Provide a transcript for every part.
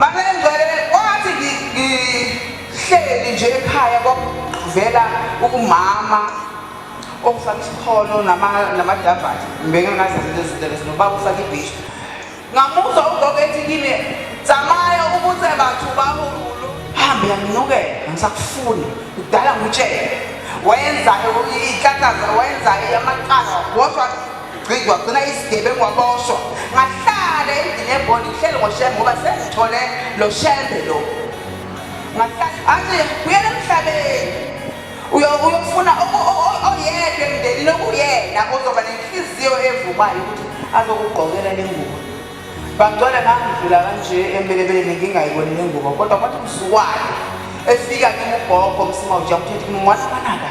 Babengcwele kwathi ngihleli nje ekhaya kwakuvela umama ofaka isikholo namadabhathi ngibengekazi lezinto lezo nobaba ufaka ibhishu ngamuzwa ugogo ethi kimi zamaya ubuthe bathu bahululo hambe yanginukela angisakufuni kudala ngitshele wenza ihlakaza wenza amaqala wodwa Gciki wagcina isigebengu waboshwa ngahlala endlini ebhondi ngihlele ngoshembe ngoba sengithole lo shembe lo ngahlala athi buyela emhlabeni uyofuna oyedwa emndenini okuyena ozoba nenhliziyo evumayo ukuthi azokugqokela le ngubo bangcwele ngangidlula kanje empelebeleni ngingayiboni le ngubo kodwa kwathi msuwayo efika kimi ugogo msima ujakuthethi kimi mwana wanaka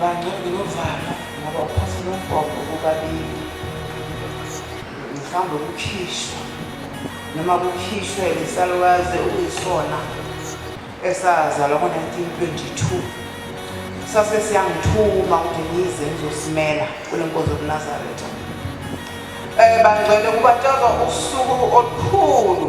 Bangcwele novalo ngoba uphatha nombhobho bobabili. Mhlawumbe kukhishwa noma kukhishwe isalukazi okuyisona esazalwa ngo-1922 sase siyangithuma ukuthi ngize ngizosimela kule nkonzo yobunazaretha um bangcwele kubatshazwa usuku olukhulu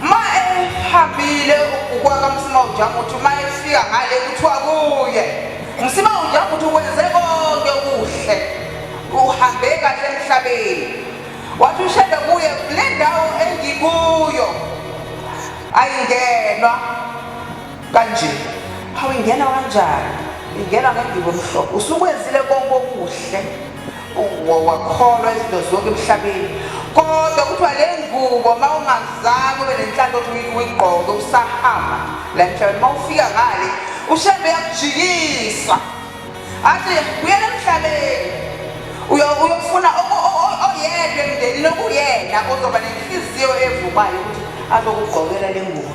Ma ehambile ukwaka msima ujamu uthi uma efika ngale kuthiwa kuye msima ujamu uthi wenze konke kuhle uhambe kahle emhlabeni wathi ushede kuye kule ndawo engikuyo ayingenwa kanje awuyingena kanjani ingena ngendibo mhlobo usukwenzile konke okuhle wakholwa izinto zonke emhlabeni kodwa kuthiwa le ngubo uma ungazange ube nenhlanhla othi uyigqoke usahamba la mhlabeni uma ufika ngale ushembe yakujikisa athi uyena emhlabeni uyofuna oyedwa emndenini okuyena ozoba nenhliziyo evumayo ukuthi azokugqokela le ngubo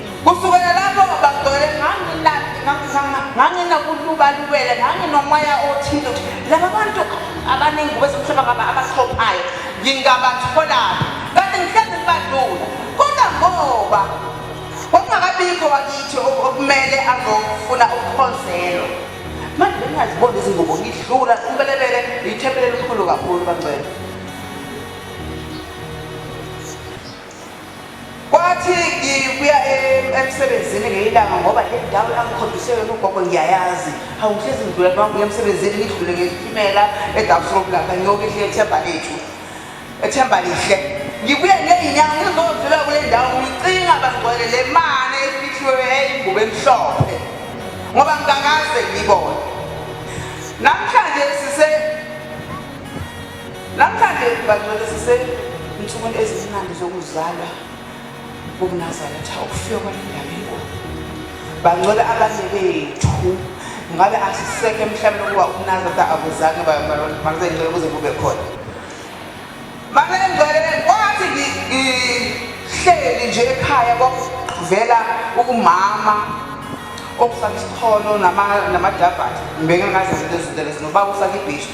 kusukela lapho ngabagcwele nganginandi nganginakulubalubele nganginomoya othile laba bantu abaningi kwezomhlaba ngaba abahlophayo ngingabatholaphi kanti ngihlezi ngibadlula kodwa ngoba kwakungakabikho wakithi okumele azofuna ukukhonzelwa manje bengingaziboni izingubo ngidlula umbelebele yithempele elikhulu kakhulu bangcwele Kwathi ngibuya em- emsebenzini ngelinye ilanga ngoba le ndawo engangikhombise yona ugogo ngiyayazi. Hawu ngihlezi ngidlule uma ngibuya emsebenzini ngidlule ngesitimela eDabsrop lapha ngiyoke ngihle ethemba lethu. Ethemba lihle. Ngibuye ngezinyawo ngizodlula kule ndawo ngicinga bangcwele le mane efihliwe eyingubo emhlophe. Ngoba ngingakaze ngibone. Namhlanje sise Namhlanje bangcwele sisensukwini ezimnandi zokuzalwa kokunazaretha ukufika kwalendawo bangcwele abanye bethu ngabe asisekho emhlabeni ukuba ukunazaretha akuzange makuzencele ukuze kube khona makuzencele kwathi ngihleli nje ekhaya kwakuvela ukumama okusakisikholo namadabhathi ngibeke ngazi izinto ezinto lezi nobaba usakibhisha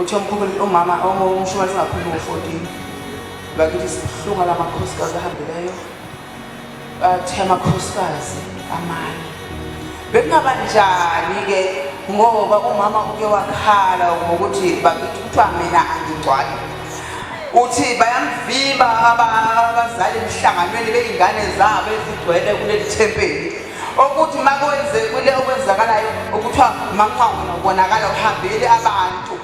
uthi omkhulu umama ongumshumane ungaphumi ngo-fourteen bakithi sibuhlungu ala makhosikazi ahambileyo bathe amakhosikazi amanye bekungaba njani-ke ngoba umama uke wakhala ngokuthi bakithi kuthiwa mina angigcwali uthi bayamvimba abazali emhlanganweni beyingane zabo ezigcwele kuleli thempeli okuthi makwenzekile okwenzakalayo okuthiwa manqwangu nokubonakala kuhambeli abantu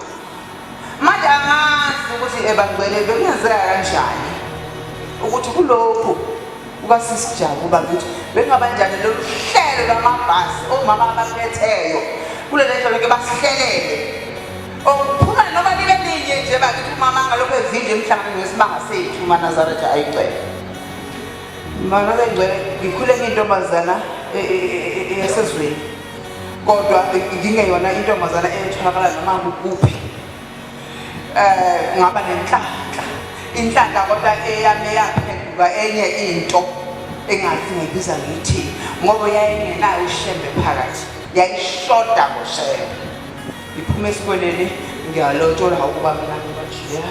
manje angazi ukuthi ebangcwele bekungenzeka kanjani ukuthi kulokhu kukasisijabu uba ngithi bengabanjani lolu hlelo lwamabhasi omama abaphetheyo kule lento loke basihlelele okuphuma noma libe linye nje bakithi umama ngalokho evinje emhlanganweni wesibanga sethu umanazaretha ayicele Mama kangcwele ngikhule ngintombazana e, e, e, yasezweni kodwa ngingeyona intombazana etholakala noma kuphi um ngaba nenhlanhla inhlanhla kodwa eyami yaphenduka enye into engathi ngibiza ngithi ngoba yayingenayo ishembe phakathi yayishoda ngoshembe ngiphume esikoleni ngiyalotsholwa ukuba mina ngibajiyela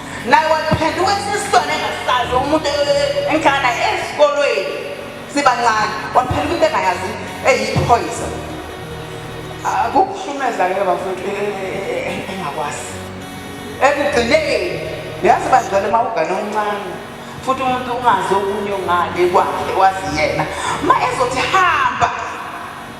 naye waphenduka isisilwane engasazi umuntu engihlala naye esikolweni sibancane waphenduka into engayazi eyiphoyisa akukuhlumeza ke bafowethu e, e, e, engakwazi ekugcineni yazi bangcwele uma ugane omncane futhi umuntu ungazi okunye ongale kwakhe wazi yena ma ezothi hamba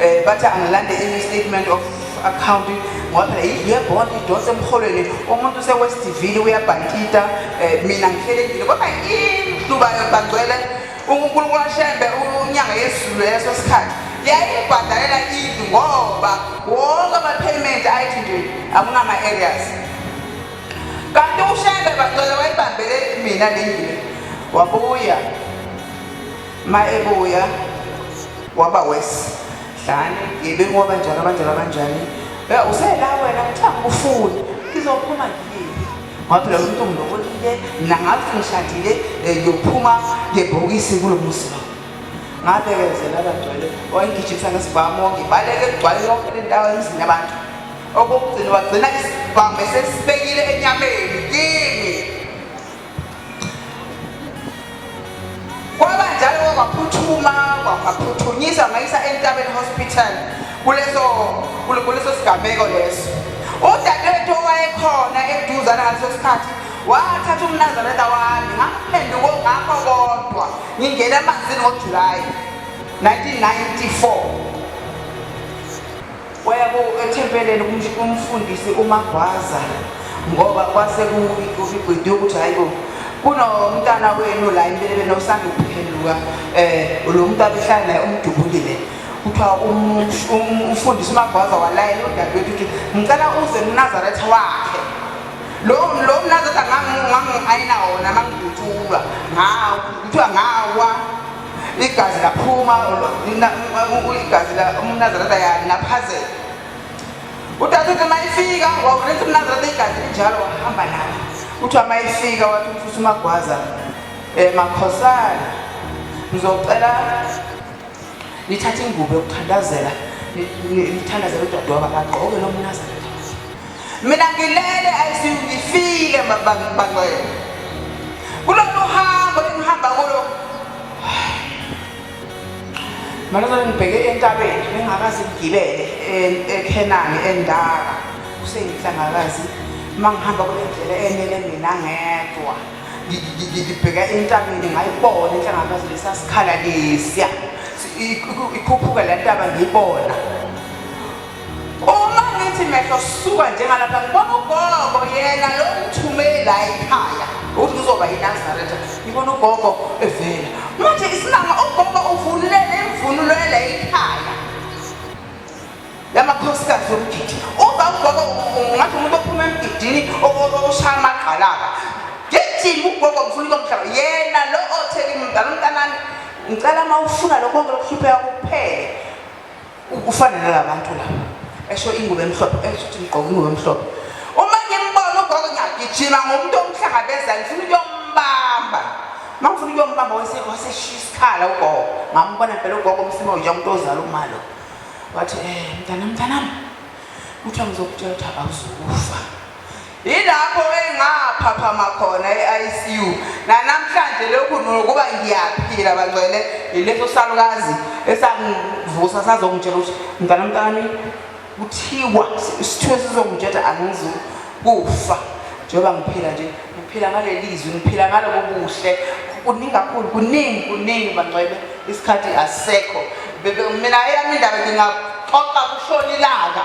Eh bathi angalande i statement of account ngoba phela yindlu yebond idonsa emholweni umuntu usewestivile uyabhankita eh, mina ngihlelekile kodwa indlu bangcwele unkulunkulu ashembe unyanga yezulu leso sikhathi yayibhadalela indlu ngoba wonke ama-payment ayithi nje akunama-areas kanti ushembe bangcwele wayibambele mina le ndlu wabuya ma ebuya waba wesi dlani yibe ngoba njalo abanjalo abanjani ya usela wena kuthanga ufuni ngizophuma ngiyini ngoba phela umuntu ngilobolile mina ngathi ngishadile eh, ngiyophuma ngebhokisi kulo muzi lo ngabekezela abagcwele wayengijisa ngesibhamu ngibaleke kugcwale yonke le ndawo emzini abantu okokugcina wagcina isibhamu esesibekile enyameni kimi Kwabanjalo kwaphuthuma kwaphuthunyiswa ngayisa entabeni hospital kuleso kuleso sigameko leso. Udadewethu owayekhona eduzana ngaleso sikhathi wathatha umnazareta wami ngamphenduko ngakho kodwa ngingena emanzini ngojulayi 1994 Waya ku ethempeleni kum- kumfundisi uMagwaza ngoba kwase kuyikwidi ukuthi hayi bo kunomntana wenu la impelebe nosanda ukuphenduka um lo muntu abehlala naye umdubulile kuthiwa um- um- umfundisi uMagwaza walayela udadewethu ukuthi ngicela uze mnazaretha wakhe lo lo mnazaretha ngangiayina wona mangidutshulwa ngawo kuthiwa ngawa igazi laphuma igazi umnazarata yanaphazela utata uthi mayifika wawuletha umnazarata igazi linjalo wahamba nayo kuthiwa mayifika wathi umfusa umagwaza um makhosana ngizocela nithathe ingubo yokuthandazela nithandazela udadewabo akagqoke lo mnazarata Mina ngilele ICU ngifile mabangcwele. Kulolu hambo engihamba kulo. Malozo ngibheke entabeni bengakaze ngigibele e- eKhenani endaka. Kuseyinhlangakazi mangihamba kule ndlela enele mina ngedwa. Ngi- ngi- ngi- Ngibheka entabeni ngayibona inhlangakazi lesasikhala lesiya. Si- iku- Ikhuphuka le ntaba ngiyibona. Uma ngithi mehlo suka njengalapha ngibona ugogo yena lo ngithumele la ekhaya ukuthi ngizoba yinazaretha ngibona ugogo evela manje isimanga ugogo uvululele imvunulo yela ekhaya yamakhosikazi yomgidi uba ugogo ngathi umuntu ophuma emgidini oshaya amagqalaba ngijima ugogo ngifuna ukomhlaba yena lo othe kimi mdala umntanami ngicela uma ufuna lokho konke lokuhlupheka kuphele Ufana nalabantu la. Esho ingubo emhlophe, esho ukuthi ngigqoke ingubo emhlophe. Uma ngimbona ugogo ngiyagijima ngomuntu omhlangabeza ngifuna ukuyombamba. Uma ngifuna ukuyombamba wase waseshiya isikhala ugogo. Ngambona phela ugogo umsimo nje umuntu ozala umalo. Wathi eh mntana mntanami. Kuthiwa ngizokutshela ukuthi awuzukufa. Yilapho engaphaphama khona e-ICU. Nanamhlanje lokhu nokuba ngiyaphila bangcwele yileso salukazi esangivusa sazongitshela ukuthi mntana mntani kuthiwa isithunywa sizongitshela angizukufa njengoba ngiphila nje ngiphila ngaleli zwi ngiphila ngalobo buhle kuningi kakhulu kuningi kuningi bangcwele isikhathi asekho mina eyami indaba ngingaxoxa kushona ilanga